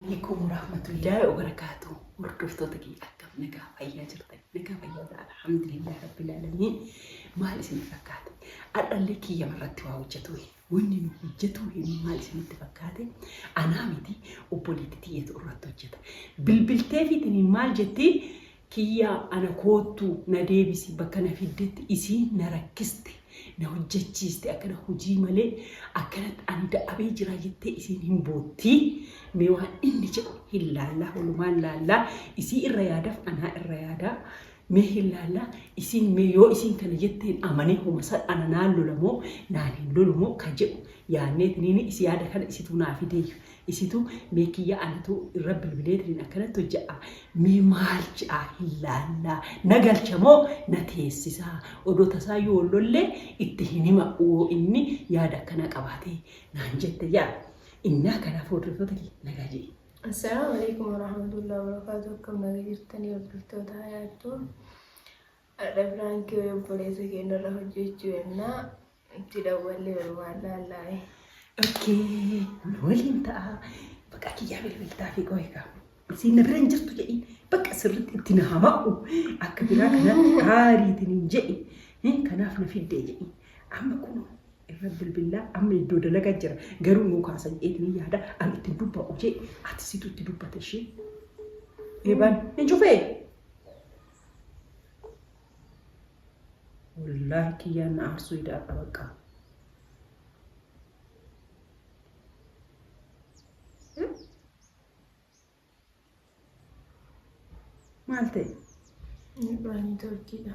Alaikum warahmatullahi wabarakatuh. Hordoftoota keenya akkam nagaa fayyaa jirtan nagaa fayyaa jira alhamdulillah rabbil alamin maal isin fakkaate adhallee kiyya irratti waa hojjetu wanni nu hojjetu hin maal isinitti fakkaate anaa miti obboleetti tiyyatu irratti hojjeta bilbiltee fiitini maal jetti Kiyyaa ana koottu na deebisi bakka na fiddetti isiin na rakkiste na hojjachiiste akkana hojii malee akkanatti ani da'abee jiraa jettee isiin hin boottii mee waan inni jedhu hin laallaa walumaan laallaa isii irra yaadaf anaa irra yaadaa mee hin laallaa isiin mee yoo isiin kana jetteen amanee homa san ana naan lola moo naan hin lolu moo ka jedhu yaanneetiniin isi yaada kana isituu naa fideeyyu Isitu mee kiyya anatu irra bilbileetiniin akkanatti hojjadha mee maal je'a hin laalla na galcha moo na teessisa odoo tasaayyuu wal lollee itti hin hima uoo inni yaada akkanaa qabaatee naan jette yaa innaa kanaaf hordoftoota kiyya nagaa je'e. Assalaamu Aleykum Warahmatullahi Wabarakaatu akkam naga jirtanii hordoftoota hayaattuu Ardha Piraankii wayii obboleessa keenyarra hojjechuu yennaa Itti dawwalleeru waallaallaa'e. Okkee nu waliin ta'a. Baqaa kiyyaa bilbiltaa fi qohi kaa. Isiin na bira hin jirtu jedhiin. Baqa sirriitti itti na hama'u. Akka biraa kanatti haariitiin hin jedhi. Hin kanaaf na fiddee jedhiin. Amma kun irra bilbilaa amma iddoo dalagaa jira. Garuu nuu kaasan eetiin yaada an ittiin dubba'u jee ati situ itti dubbata ishee. Eebaan hin cufee. Wallaahi kiyyaan na aarsuu idaadha bakka. Maal ta'e? Midhaanii turkiidha.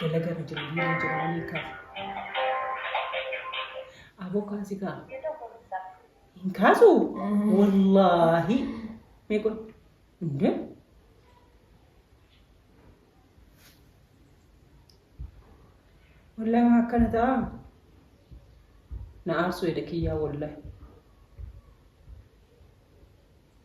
Dalagaa irra jira biyya irra jira waan hiikaaf. Aboo kaasi kaa. Hin kaasu? Wallaahi. Mee kun. Indee. Wallaahi maa akkana ta'a. Na aarsuu eda kiyyaa wallaahi.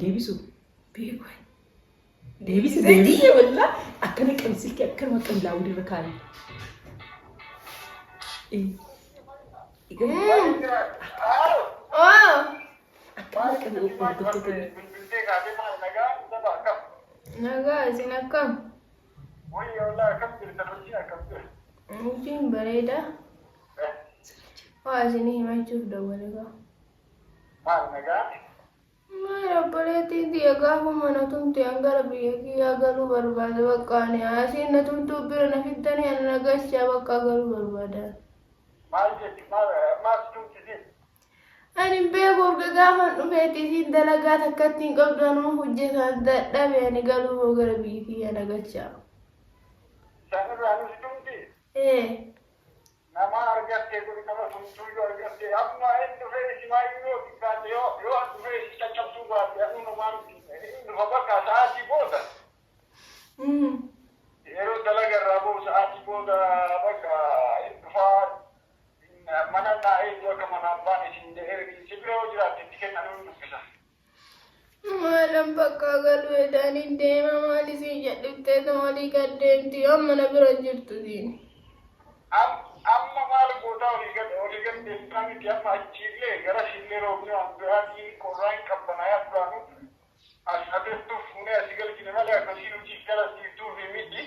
Deebisu. Deebisi deebisi walla akkana qabi silkii akkanuma qabi laawudi irra kaa'e. Akkana qabi hordoftoota Nagaa isin akkam? Hojiin bareeda. Waa isinii himachuuf dawwale gaa. Maal nagaa? Maal obboleettiin tiyya gaafuma na tumte an gara biyya kiyyaa galuu barbaada bakka ani asiin na tumtuu bira na fiddanii ana na galchaa bakka galuu barbaada. Maal jetti? Maal maal si tumtisiif? Ani hin beeku urga gaafan dhufeetti isiin dalagaa takkatti hin qabdu anuma hojjetaan dadhabe ani galuu hoo gara biyya kiyyaa na galchaa. Isaan irraa nu si tumti? Ee. Namaa argattee kun nama tumtuuyyuu argattee ammaa hin dhufee isimaayyuu yoo xiqqaate yoo yoo an dhufee isin caccabsuu baadhe anuu namaa miti hin dhufa bakka sa'aatii booda yeroo dalaga irraa ba'u sa'aatii booda bakka hin dhufaa mana naa eegu akka manaan baane isin jedhee isin bira yoo jiraatte itti kenna anuu hin dubbisa. Maalan bakkaa galu jedhanii deema maal isiin jedhiftee tomalii gad deemti yoo amma na bira jirtu siin. Amma maal gootaa olii gad olii gad deemtaa miti amma achiillee garasiillee roobni waan biraatiin qorraa hin qabbanaayaa duraanuu as haa teessuu fuunee asi galchine malee akka isiin hojii gara siif duufi miti.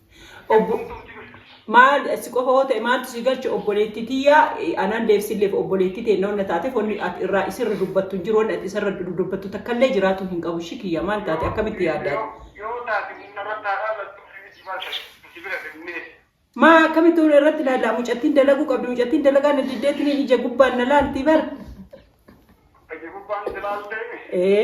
Obbo maal si qofa hoo ta'e maaltu si galche obboleettii tiyyaa anaan deebsilleef obboleettii teenna wanna taateef wanni ati irraa isirra dubbattu hin jiru wanni ati isarra dubbattu takkallee jiraatuu hin qabu ishii kiyya maal taate akkamitti yaadda ati. Yoo taate humna irratti haa laallattu ofii miti maal taate nuti bira finnee. Maa akkamitti hona irratti laallaa mucattiin dalaguu qabdi mucattiin dalagaa na diddeetiniin ija gubbaan na laaltii bara. Ija gubbaan si laaltee. Ee.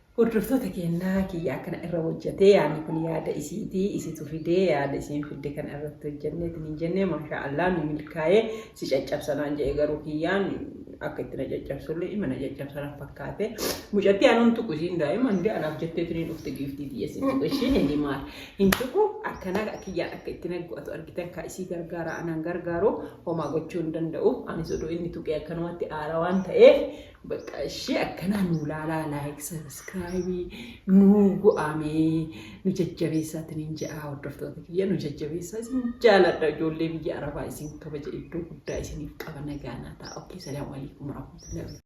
Hordoftoota keenna kiyya akkana irra hojjate yaani kun yaada isiiti isitu fide yaada isiin fidde kana irratti hojjanne itinin jenne maashaa Allah nu milkaaye si caccabsa naan jedhe garuu kiyyaan akka itti na caccabsulle ima na caccabsa na fakkaate mucatti anuun tuqu isiin daa'ima hinde anaaf jettee tiniin dhufte giiftii tiyya isiin tuqu ishiin hin himaar hin tuqu akkana kiyyaan akka itti na go'atu argitan kaa isii gargaara anaan gargaaru homaa gochuu hin danda'u anis odoo inni tuqee akkanumatti aara waan ta'eef Baqqaa ishii akkanaa nuu laalaa like subscribe nuu go'aa mee nu jajjabeessaa isiniin je'aa hordoftoota kiyya nu jajjabeessaa isin jaaladha ijoollee biyya arabaa isin kabaja iddoo guddaa isiniif qaba nagaa naa ta'a okay salaamu alaikum warahmatullahi